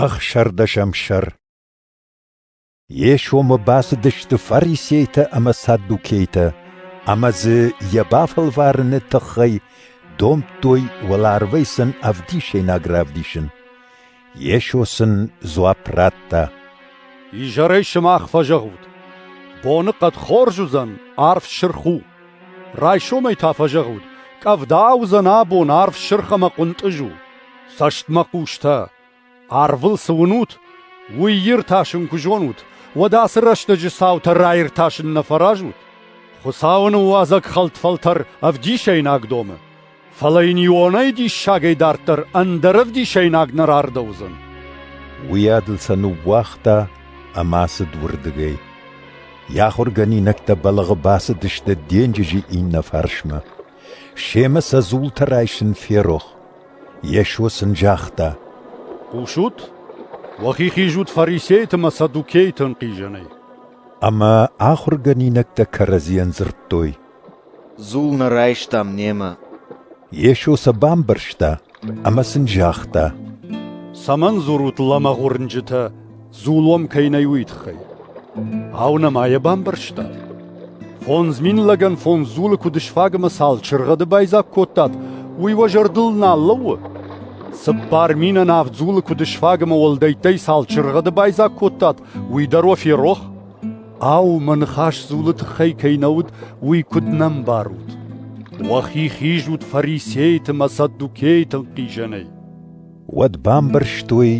Ӕхсӕрдӕсӕм сӕр Йе сомы бацыдысты фарисейтӕ ӕмӕ саддукейтӕ ӕмӕ дзы йӕ бафӕлварыны тыххӕй домдтой уӕларвӕй сын ӕвдисӕйнаг равдисын. Йесо сын дзуапп радта: «Изӕрӕй сымах фӕзӕгъут: боныхъӕд хорз уыдзӕн, арв сырх у. райсомӕй та фӕзӕгъут: къӕвда уыдзӕн абон, арв сырх ӕмӕ хъуынтъыз у. Цӕстмӕ хъустӕ, арвыл цы уынут, уый иртасын куы зонут, уӕд ацы рӕстӕджы цаутӕ раиртасын нӕ фӕразут? Хуыцауы ныууадзӕг хӕлтфӕлтӕр ӕвдисӕйнаг домы, фӕлӕ йын ионӕй диссагӕй дарддӕр ӕндӕр ӕвдисӕйнаг нӕ рардӕудзӕн. Уый адыл сӕ ныууагъта ӕмӕ ацыд уырдыгӕй. Йӕ ахуыргӕнинӕгтӕ бӕлӕгъы бацыдысты денджызы иннӕ фарсмӕ. Семӕ сӕ дзултӕ райсын ферох. Йесо сын загъта: «Хъусут? Уӕхи хизут фарисейты ӕмӕ саддукейты ӕнхъизӕнӕй». Ӕмӕ ахуыргӕнинӕгтӕ кӕрӕдзийӕн дзырдтой: «Дзул нӕ райстам немӕ». Йесо сӕ бамбӕрста ӕмӕ сын загъта: «Цӕмӕн дзурут лӕмӕгъ уырнджытӕ, дзул уӕм кӕй нӕй, уый тыххӕй? Ау, нӕ ма йӕ бамбӕрстат? Фондз мин лӕгӕн фондз дзулы куыд сфаг ӕмӕ цал чыргъӕды байдзаг кодтат, уый уӕ зӕрдыл нал лӕууы? Цыппар минӕн авд дзулы куыд сфаг ӕмӕ уӕлдӕйттӕй цал чыргъӕды байдзаг кодтат, уый дӕр уӕ ферох? Ау, мӕ ныхас дзулы тыххӕй кӕй нӕ уыд, уый куыд нӕ мбарут? Уӕхи хизут фарисейты мӕ саддукейты хъизӕнӕй. Уӕд бамбӕрстой,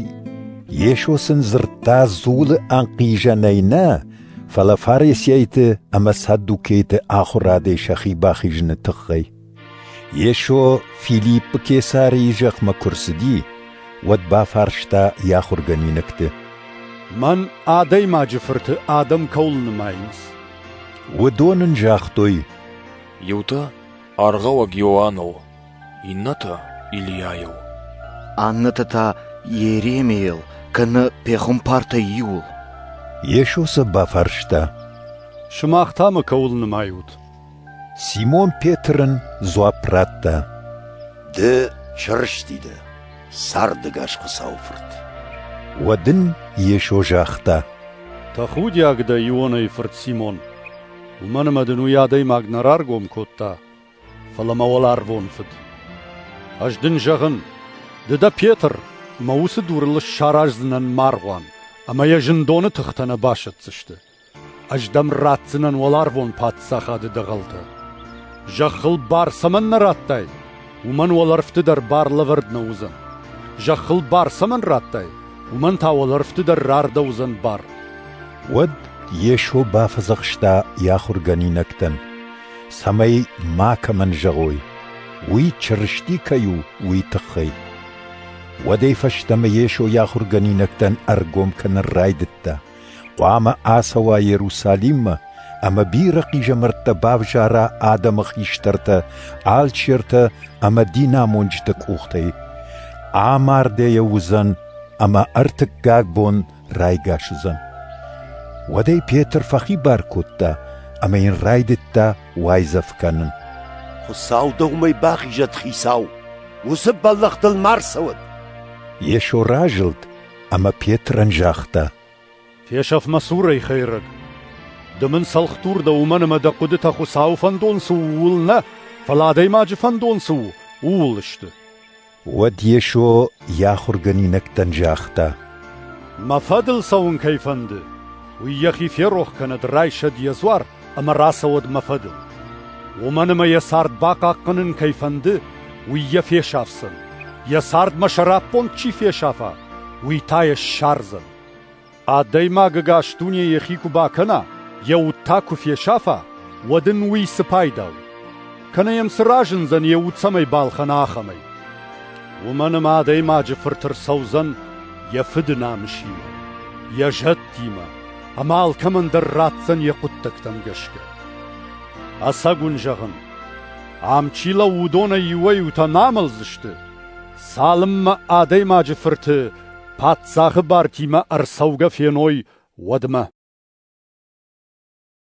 Йесо сын дзырдта дзулы ӕнхъизӕнӕй нӕ, фӕлӕ фарисейты ӕмӕ саддукейты ахуырадӕй сӕхи бахизыны тыххӕй. Йесо Филиппы Кесарийы зӕхмӕ куы рцыди, уӕд бафарста йӕ ахуыргӕнинӕгты. «Мӕн Адӕймаджы Фырты адӕм кӕуыл нымайынц?» Уыдон ын загътой: «Иутӕ аргъауӕг Иоанныл, иннӕтӕ Ильяйыл». Аннӕтӕ та Иеремийыл, кӕнӕ пехуымпартӕй иуыл. Йесо сӕ бафарста: «Сымах та мӕ кӕуыл нымайут?» Симон Петрын дзуапп радта: Ды чырысти дӕ, цардӕгас Хуыцауы Фырт. Уӕд ын Йесо загъта: Тӕхудиаг дӕ, Ионайы фырт Симон. Уымӕн ӕмӕ дын уый адӕймаг нӕ раргом кодта, фӕлӕ мӕ уӕларвон Фыд. Ӕз дын зӕгъын, ды дӕ Петр, ӕмӕ уыцы дурыл ссараздзынӕн маргъуан, ӕмӕ йӕ зындоны тыхтӕ нӕ басӕтдзысты. Ӕз дӕм ратдзынӕн уӕларвон паддзахады дӕгъӕлтӕ. Зӕххыл бар цӕмӕннӕ радтай, уымӕн уӕлӕрвты дӕр бар лӕвӕрд нӕ уыдзӕн. Зӕххыл бар цӕмӕн радтай, уымӕн та уӕлӕрвты дӕр рардӕуыдзӕн бар. Уӕд Йесо бафӕдзӕхста йӕ ахуыргӕнинӕгтӕн, цӕмӕй макӕмӕн зӕгъой, уый Чырысти кӕй у, уый тыххӕй. Уӕдӕй фӕстӕмӕ Йесо йӕ ахуыргӕнинӕгтӕн ӕргом кӕнын райдыдта. Хъуамӕ ацӕуа Иерусалиммӕ ӕмӕ бирӕ хъизӕмӕрттӕ бавзара адӕмы хистӕртӕ, алчертӕ ӕмӕ динамонджыты къухтӕй. Амардӕйӕ уыдзӕн ӕмӕ ӕртыккаг бон райгас уыдзӕн. Уӕдӕй Петр фӕхибар кодта ӕмӕ йын райдыдта уайдзӕф кӕнын. Хуыцау дӕумӕ бахизӕд, хицау! Уыцы бӕллӕх дыл ма рцӕуӕд! Йесо разылд Ӕмӕ Петрӕн загъта: «Фесӕф мӕ цурӕй, хӕйрӕг! Ды мын цӕлхдур дӕ уымӕн ӕмӕ дӕ хъуыдытӕ Хуыцауы фӕндон цы у, ууыл нӕ, фӕлӕ адӕймаджы фӕндон цы у, ууыл сты». Уӕд Йесо йӕ ахуыргӕнинӕгтӕн загъта: «Мӕ фӕдыл цӕуын кӕй фӕнды, уый йӕхи ферох кӕнӕд, райсӕд йӕ дзуар ӕмӕ рацӕуӕд мӕ фӕдыл. Уымӕн ӕмӕ йӕ цард бахъахъхъӕнын кӕй фӕнды, уый йӕ фесафдзӕн, йӕ цардмӕ сӕраппонд чи фесафа, уый та йӕ ссардзӕн. Адӕймаг ӕгас дуне йӕхи куы бакӕна, йӕ уд та куы фесафа, уӕд ын уый цы пайда у? Кӕнӕ йӕм цы разындзӕн йӕ уд цӕмӕй балхӕна, ахӕмӕй? Уымӕн ӕмӕ адӕймаджы фырт ӕрцӕудзӕн йӕ фыды намысимӕ, йӕ зӕдтимӕ, ӕмӕ алкӕмӕн дӕр ратдзӕн йӕ хъуыддӕгтӕм гӕсгӕ. Ӕцӕг уын зӕгъын, ам чи лӕууы, уыдонӕй иуӕй-иутӕ нӕ амӕлдзысты, цалынмӕ адӕймаджы фырты паддзахы бартимӕ ӕрцӕугӕ феной, уӕдмӕ.